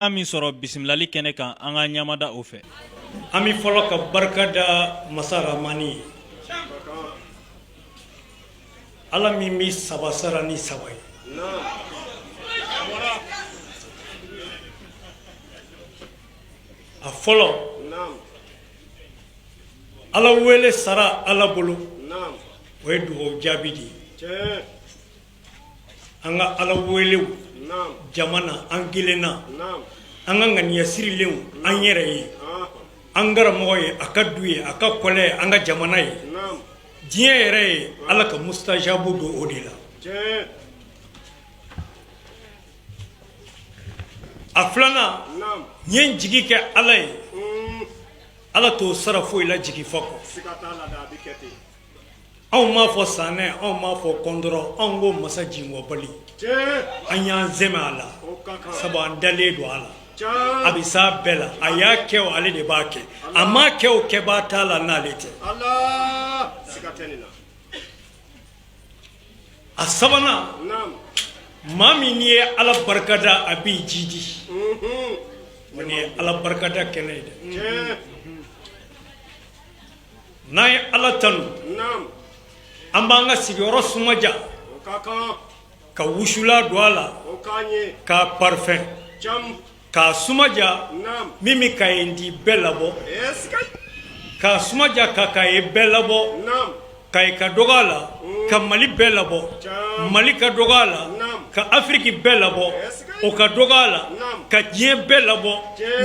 An min sɔrɔ bisimilali kɛnɛ kan an ka ɲamada o fɛ an bɛ fɔlɔ ka barika da masa ramani ye ala min bɛ saba sara ni saba ye a fɔlɔ ala wele sara ala bolo o ye dugawu jaabi de ye an ka ala welew jama na an kelen na an ka ŋaniya sirilenw an yɛrɛ ye an karamɔgɔ ye a ka du ye a ka kɔlɛ ye an ka jamana ye diɲɛ yɛrɛ ye ala ka mustajabu don o de la a filanan n'i y'i jigi kɛ ala ye ala t'o sara foyi la jigi fa kɔ anw m'a fɔ sanɛ anw m'a fɔ kɔndɔrɔ anw ko masa jingɔnbali an y'an sɛmɛ a la sabu an dalen don a la a bɛ s'a bɛɛ la a y'a kɛ o ale de b'a kɛ a m'a kɛ o kɛbaa t'a la n'ale tɛ a sabanan maa min n'i ye ala barikada a b'i jidi nin ye ala barikada kɛnɛ ye dɛ N'an ye ala tanu an b'an ka sigiyɔrɔ sumaja ka wusula don a la k'a parifɛn k'a sumaja min bɛ kayi ndi bɛɛ labɔ k'a sumaja ka kayi bɛɛ labɔ kayi ka dɔgɔ a la ka mali bɛɛ labɔ mali ka dɔgɔ a la ka afiriki bɛɛ labɔ o ka dɔgɔ a la ka diɲɛ bɛɛ labɔ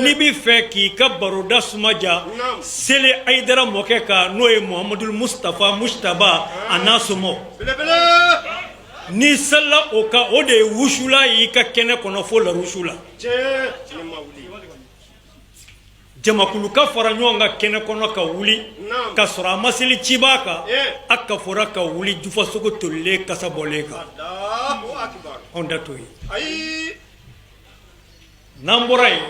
n'i bɛ fɛ k'i ka baroda suma ja seli ayidara mɔkɛ kan n'o ye muhamadu mustafa mujitaba a n'a somɔgɔw n'i selila o kan o de ye wusula y'i ka kɛnɛ kɔnɔ fo la wusu la jamakulu ka fara ɲɔgɔn kan kɛnɛ kɔnɔ ka wuli ka sɔrɔ a ma seli cibaa kan a kafora ka wuli jufasogo tolilen kasa bɔlen kan anw ta t'o ye n'an bɔra yen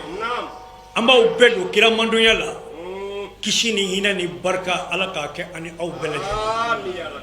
an b'aw bɛɛ don kira mandonya la kisi ni hinɛ ni barika ala k'a kɛ ani aw bɛɛ lajɛlen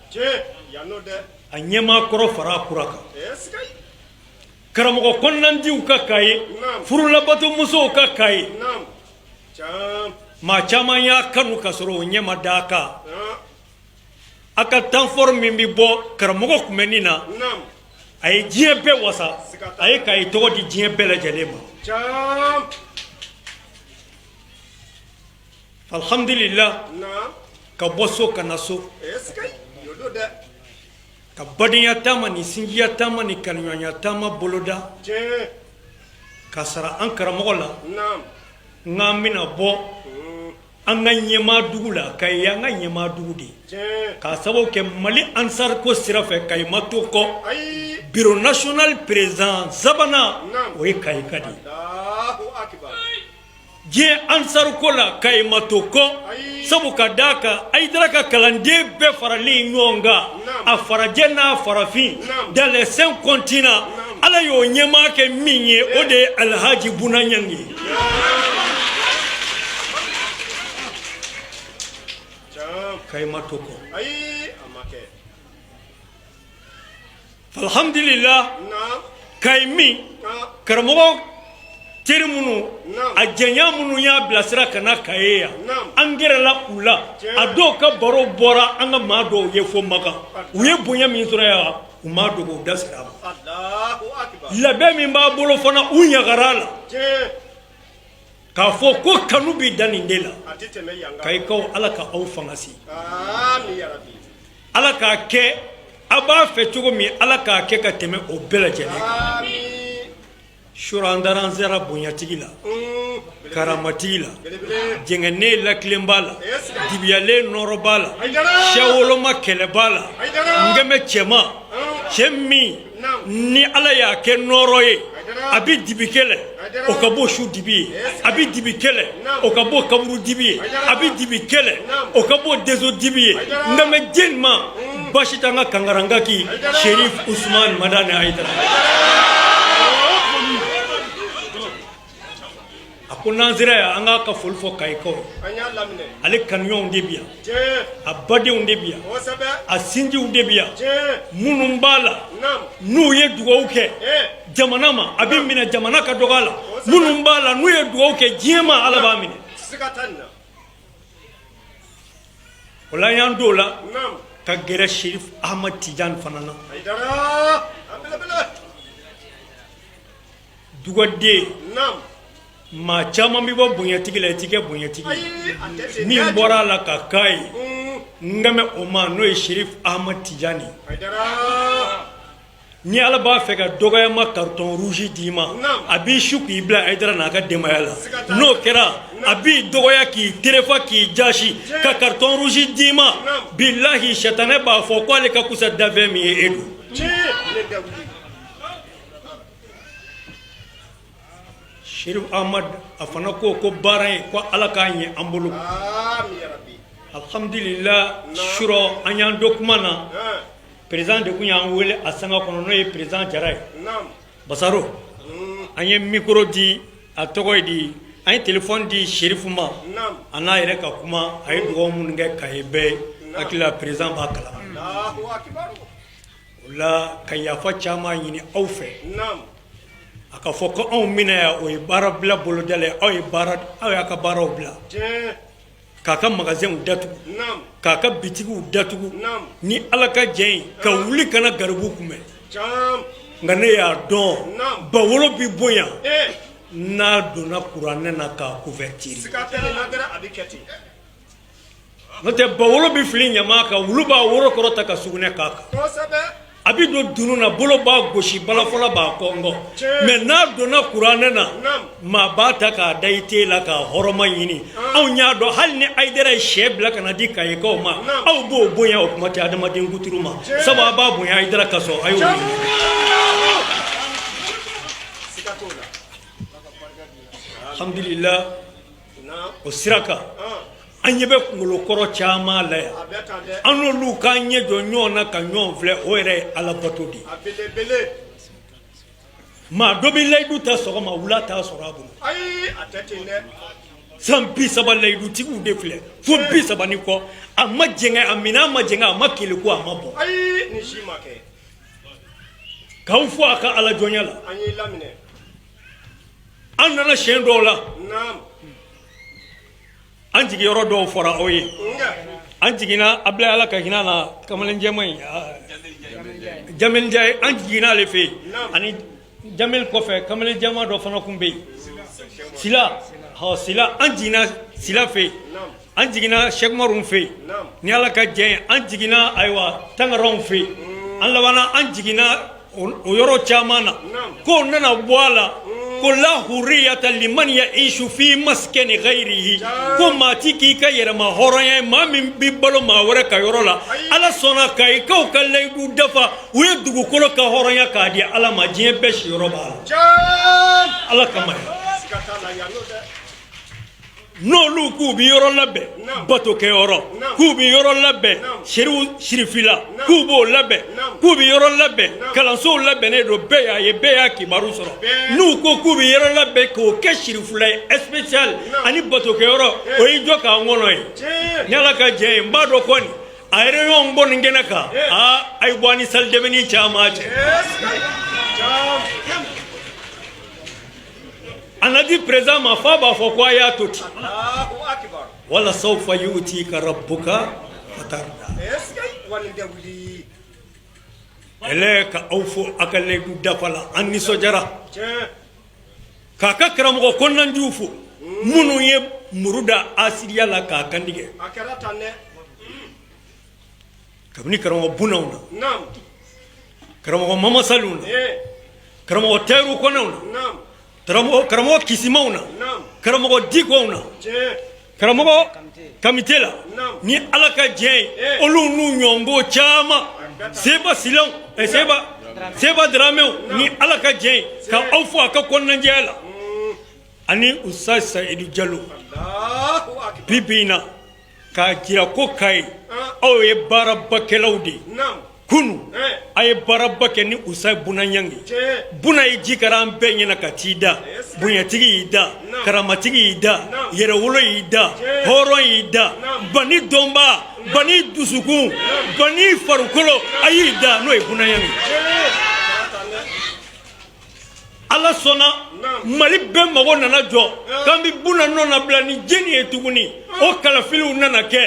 a ɲɛmaa kɔrɔ fara a kura kan karamɔgɔ kɔnɔnandiw ka kayi furulabatomusow ka kayi maa caman y'a kanu ka sɔrɔ o ɲɛ ma da a kan a ka tanfɔri min bɛ bɔ karamɔgɔ kunbɛnni na a ye diɲɛ bɛɛ wasa a ye kayi tɔgɔ di diɲɛ bɛɛ lajɛlen ma Alihamdulila ka bɔ so ka na so ka badenya taama ni sinjiya taama ni kanuɲɔgɔnya taama boloda ka sara an karamɔgɔ la n'an bɛna bɔ an ka ɲɛmaa dugu la Kayi ye an ka ɲɛmaa dugu de ye k'a sababu kɛ mali ansariko sira fɛ Kayi ma to kɔ bureau national président sabanan o ye Kayika de diɲɛ ansaruko la Kayi ma to kɔ sabu ka d' a kan Ayidara ka kalanden bɛɛ faralen ɲɔgɔn kan a farajɛ n'a farafin dans les cinq continents ala y'o ɲɛmaa kɛ min ye o de ye alihaji Buna Ɲange ye Kayi ma to kɔ alihamdulila Kayi min karamɔgɔ teri minnu a jɛnya minnu y'a bilasira ka na Kayi yan an gɛrɛla u la a dɔw ka baro bɔra an ka maa dɔw ye fo Makan u ye bonya min sɔrɔ yan u m'a dogo u da sera a ma labɛn min b'a bolo fana u ɲagar'a la K'a fɔ ko kanu bɛ dan nin de la Kayikaw ala ka aw fanga si ala k'a kɛ aw b'a fɛ cogo min ala k'a kɛ ka tɛmɛ o bɛɛ lajɛlen surɔ an taara an sera bonyatigi la karamatigi la jɛngɛnen latilenbaa la dibiyalen nɔɔrɔbaa la siyawoloma kɛlɛbaa la n kan bɛ cɛ ma cɛ min ni ala y'a kɛ nɔɔrɔ ye a bɛ dibi kɛlɛ o ka bon su dibi ye a bɛ dibi kɛlɛ o ka bon kaburu dibi ye a bɛ dibi kɛlɛ o ka bon denso dibi ye n kan bɛ jɔni ma basi t'an ka kangaranka k'i Serif Usuman Madani Ayidara a ko n'an sera yan an k'a ka foli fɔ kayikaw ye ale kanuɲɔgɔnw de bɛ yan a badenw de bɛ yan a sinjiw de bɛ yan minnu b'a la n'u ye dugawu kɛ jamana ma a bɛ minɛ jamana ka dɔgɔ a la minnu b'a la n'u ye dugawu kɛ diɲɛ ma ala b'a minɛ o la y'an don o la ka gɛrɛ serif ahmad tijan fana na dugaden maa caman bɛ bɔ bonyatigi la i tɛ kɛ bonyatigi min bɔra a la ka k'a ye n kan bɛ o ma n'o ye Serif Ahmad Tijani ni ala b'a fɛ ka dɔgɔya ma carton rouge d'i ma a b'i su k'i bila Ayidara n'a ka denbaya la n'o kɛra a b'i dɔgɔya k'i terefa k'i jasi ka carton rouge d'i ma bilahi sɛtanɛ b'a fɔ k' ale ka kusa danfɛn min ye e don Amadu a fana ko ko baara ye ko ala k'a ɲɛ an bolo alhamdulillah surɔ an y'an don kuma na perezidan de tun y'an wele a sanga kɔnɔ n'o ye perezidan jara ye basaro mm. an ye mikoro di a tɔgɔ ye di an ye telefɔni di sirifu ma a n'a yɛrɛ ka kuma a ye dugaw minnu kɛ kayi bɛɛ ye n hakili la perezidan b'a kalama o la ka yafa caman ɲini aw fɛ a ka fɔ ko anw min na yan o ye baara bila boloda aw ye bari aw y'a ka baaraw bila k'a ka magazɛnw datugu k'a ka bitigiw datugu ni ala ka jɛ ye ka wuli ka na garibu kunbɛn nka ne y'a dɔn ba wolo bɛ bonya n'a donna kuranɛ na k'a kuvɛritiri n'o tɛ ba wolo bɛ fili ɲama kan wulu b'a woro kɔrɔta ka sugunɛ k'a kan a bɛ don dunun na bolo b'a gosi balafɔla b'a kɔnkɔn mɛ n'a donna kuranɛ na maa b'a ta k'a da i te la k'a hɔrɔma ɲini anw y'a dɔn hali ni ayidara ye sɛ bila ka na di kayikaw ma aw b'o bonya o kuma tɛ adamaden kuturu ma sabu a b'a bonya ayidara kosɔn a y'o alhamdulillah o sira kan an ɲɛ bɛ kunkolokɔrɔ caman la yan an n'olu k'an ɲɛ jɔ ɲɔgɔn na ka ɲɔgɔn filɛ o yɛrɛ ye alabato de ye maa dɔ bɛ layidu ta sɔgɔma wula t'a sɔrɔ a bolo san bi saba layidutigiw de filɛ fo bi saba ni kɔ a ma jɛngɛ amiina a ma jɛngɛ a ma keleku a ma bɔ k'aw fɔ a ka alajɔnya la an nana siɲɛ dɔ la an jigi yɔrɔ dɔw fɔra aw ye an jiginna abila ala ka hinɛ a na kamalenjɛma in ja an jiginna ale fɛ yen ani jamɛli kɔfɛ kamalenjɛma dɔ fana tun bɛ yen sila sila an jiginna sila fɛ yen An jiginna sɛkumaru fɛ yen ni ala ka jɛ an jiginna ayiwa tangaraw fɛ yen an labanna an jiginna o yɔrɔ caman na ko nana bɔ a la ko la hurriyata liman ya'ishu fi maskani gayrihi ko maa tɛ k'i ka yɛrɛmahɔrɔnya ye maa min bɛ balo maa wɛrɛ ka yɔrɔ la ala sɔnna kayikaw ka layidu dafa u ye dugukolo kanhɔrɔnya k'a di ala ma diɲɛ bɛɛ si yɔrɔ' la ala kama n'olu k'u bɛ yɔrɔ labɛn batokɛ yɔrɔ k'u bɛ yɔrɔ labɛn sirifila k'u b'o labɛn k'u bɛ yɔrɔ labɛn kalansow labɛnnen don bɛɛ y'a ye bɛɛ y'a kibaru sɔrɔ n'u ko k'u bɛ yɔrɔ labɛn k'o kɛ sirifila ye spécial ani batokɛ yɔrɔ o y'i jɔ k'an kɔnɔ ye ni ala ka jɛ ye n b'a dɔn kɔni a yɛrɛ ɲɔgɔn bɔ nin kɛnɛ kan aa a ye bɔ ni sali dɛmɛni caman cɛ anadi perezan ma fo a b'a fɔ ko a y'a to ten wala sawfa yutika rabbuka fatarda ale ka aw fo a ka layidu dafa la an nisɔndiyara k'a ka karamɔgɔ kɔnɔnajɛw fo minnu ye muru da asiriya la k'a kan tigɛ kabini karamɔgɔ bunanw na karamɔgɔ mamasaliw na karamɔgɔ tɛriw kɔnɛw na karamɔgɔ kisimaw na karamɔgɔ dikɔw na karamɔgɔ kamite la ni ala ka jɛ olu n'u ɲɔgɔn caman seba siw eh, seba seba daramɛw ni ala ka jɛ ka aw fɔ a ka kɔnɔnajɛya la ani ustaz sayidu jalo bi bi in na k'a jira ko Kayi, an, aw ye baarabakɛlaw de ye, naamu, kunun, ɛɛ, a ye baaraba kɛ ni Ustaz Buna Nyangi ye, tiɲɛ, Buna ye ji kari an bɛɛ ɲɛna ka t'i da, ɛɛ, bonyatigi y'i da, naamu, karamatigi y'i da, naamu, yɛrɛwolo y'i da, tiɲɛ, hɔrɔn y'i da, naamu, bani dɔnbaa, bani dusukun, bani farikolo, a y'i da n'o ye Buna Nyangi ye. ala sɔnna mali bɛɛ mago nana jɔ k'an bɛ buna nɔnabila ni jɛni ye tuguni o kalafiliw nana kɛ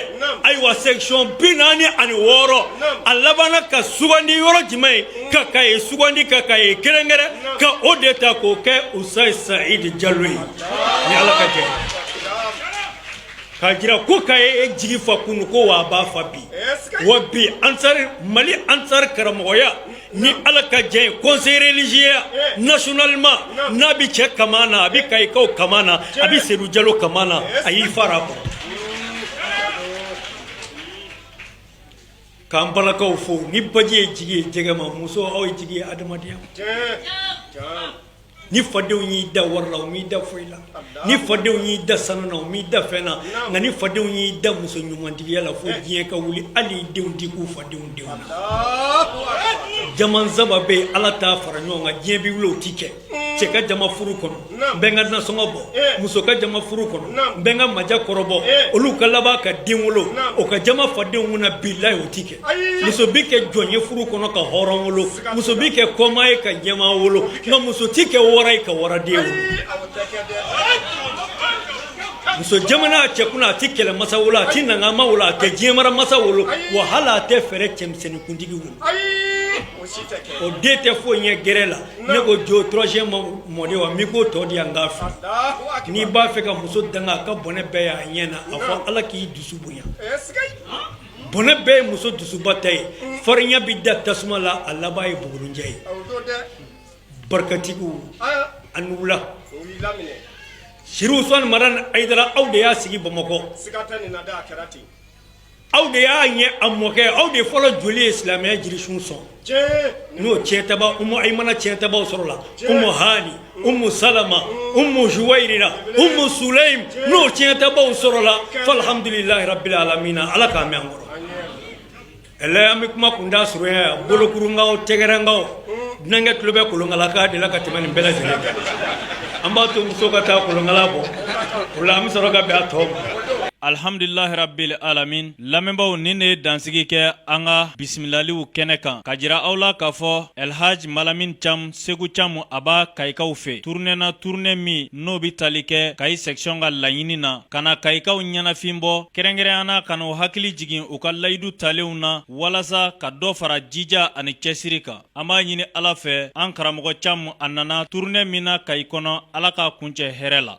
ayiwa section bi naani ani wɔɔrɔ a labanna ka sugandi yɔrɔ jumɛn ye ka kayi sugandi ka kayi kɛrɛnkɛrɛn ka o de ta k'o kɛ ustaz sayidu jalo ye ni ala ka jɛ k'a jira ko kayi ye jigi fa kunu ko wa a b'a fa bi wa bi ansari mali ansari karamɔgɔya ni ala ka jɛ ye conseil religieux nationalement n'a bɛ cɛ kaman na a bɛ kayikaw kaman na a bɛ sedu jalo kaman na a y'i fara kɔrɔ k'an balakaw fo ni baji ye jigi ye jɛgɛ ma muso aw ye jigi ye adamadenya ma Ni fadenw y'i dan wari la u m'i dan foyi la ni fadenw y'i dan sanu na u m'i dan fɛn na nka ni fadenw y'i dan muso ɲumantigiya la fo diɲɛ ka wuli hali i denw ti kun fadenw denw na jama saba bɛ yen ala t'a fara ɲɔgɔn kan diɲɛ bɛ wili o tɛ kɛ cɛ ka jama furu kɔnɔ n bɛ n ka nasɔngɔ bɔ muso ka jama furu kɔnɔ n bɛ n ka maja kɔrɔbɔ olu ka laban ka den wolo o ka jama fadenw na bila o tɛ kɛ muso bɛ kɛ jɔn ye furu kɔnɔ ka hɔrɔn wolo muso bɛ kɛ kɔmaa ye ka ɲɛmaa wolo nka muso tɛ kɛ wara ye ka waraden wolo muso jamanna a cɛ kunna a tɛ kɛlɛ masa wolo a tɛ nangama wolo a tɛ diɲɛ mara masa wolo wa hali a tɛ fɛrɛ cɛmisɛnnin kuntigi wolo o den tɛ foyi ɲɛ gɛrɛ la ne ko jo troisième mɔden wa min ko tɔ di yan k'a fɔ n'i b'a fɛ ka muso danga a ka bɔnɛ bɛɛ y'a ɲɛ na a fɔ ala k'i dusu bonya bɔnɛ bɛɛ ye muso dusuba ta ye farinya bɛ da tasuma la a laban ye bugurunjɛ ye barikatigiw a ni wula Sirifu Usumani Madani Ayidara aw de y'a sigi Bamakɔ siga t'a ni na dɛ a kɛra ten aw de y'a ɲɛ a mɔkɛ aw de fɔlɔ joli ye silamɛya jirisun sɔn. n'o ciyɛntaba umu ayimana ciyɛntabaw sɔrɔla umu hani umu salama umu juwayiriya umu sulayimu n'o ciyɛntabaw sɔrɔla falihamdulilahi rabbil alamina ala k'a mɛɛn an kɔrɔ ɛlɛ an bɛ kuma kunda surunya bolokurunkan wo tɛgɛrɛkan wo dunankɛ tulo bɛ kolonkala kan de la ka tɛmɛ nin bɛɛ lajɛlen kan an b'a to muso ka taa kolonkala bɔ o la an bɛ sɔrɔ ka bɛn a tɔ ma alihamdulilahi rabbil alamin Lamɛnbaaw nin de ye dansigi kɛ an ka bisimilaliw kɛnɛ kan ka jira aw la k'a fɔ Elhaj Malamin Cam Segu Cam a b'a Kayikaw fɛ tournée na tournée min n'o bɛ tali kɛ Kayi section ka laɲini na ka na Kayikaw ɲɛnafin bɔ kɛrɛnkɛrɛnya na ka n'u hakili jigin u ka layidu talenw na walasa ka dɔ fara jija ani cɛsiri kan an b'a ɲini Ala fɛ an karamɔgɔ Cam a nana tournée min na Kayi kɔnɔ Ala k'a kuncɛ hɛrɛ la.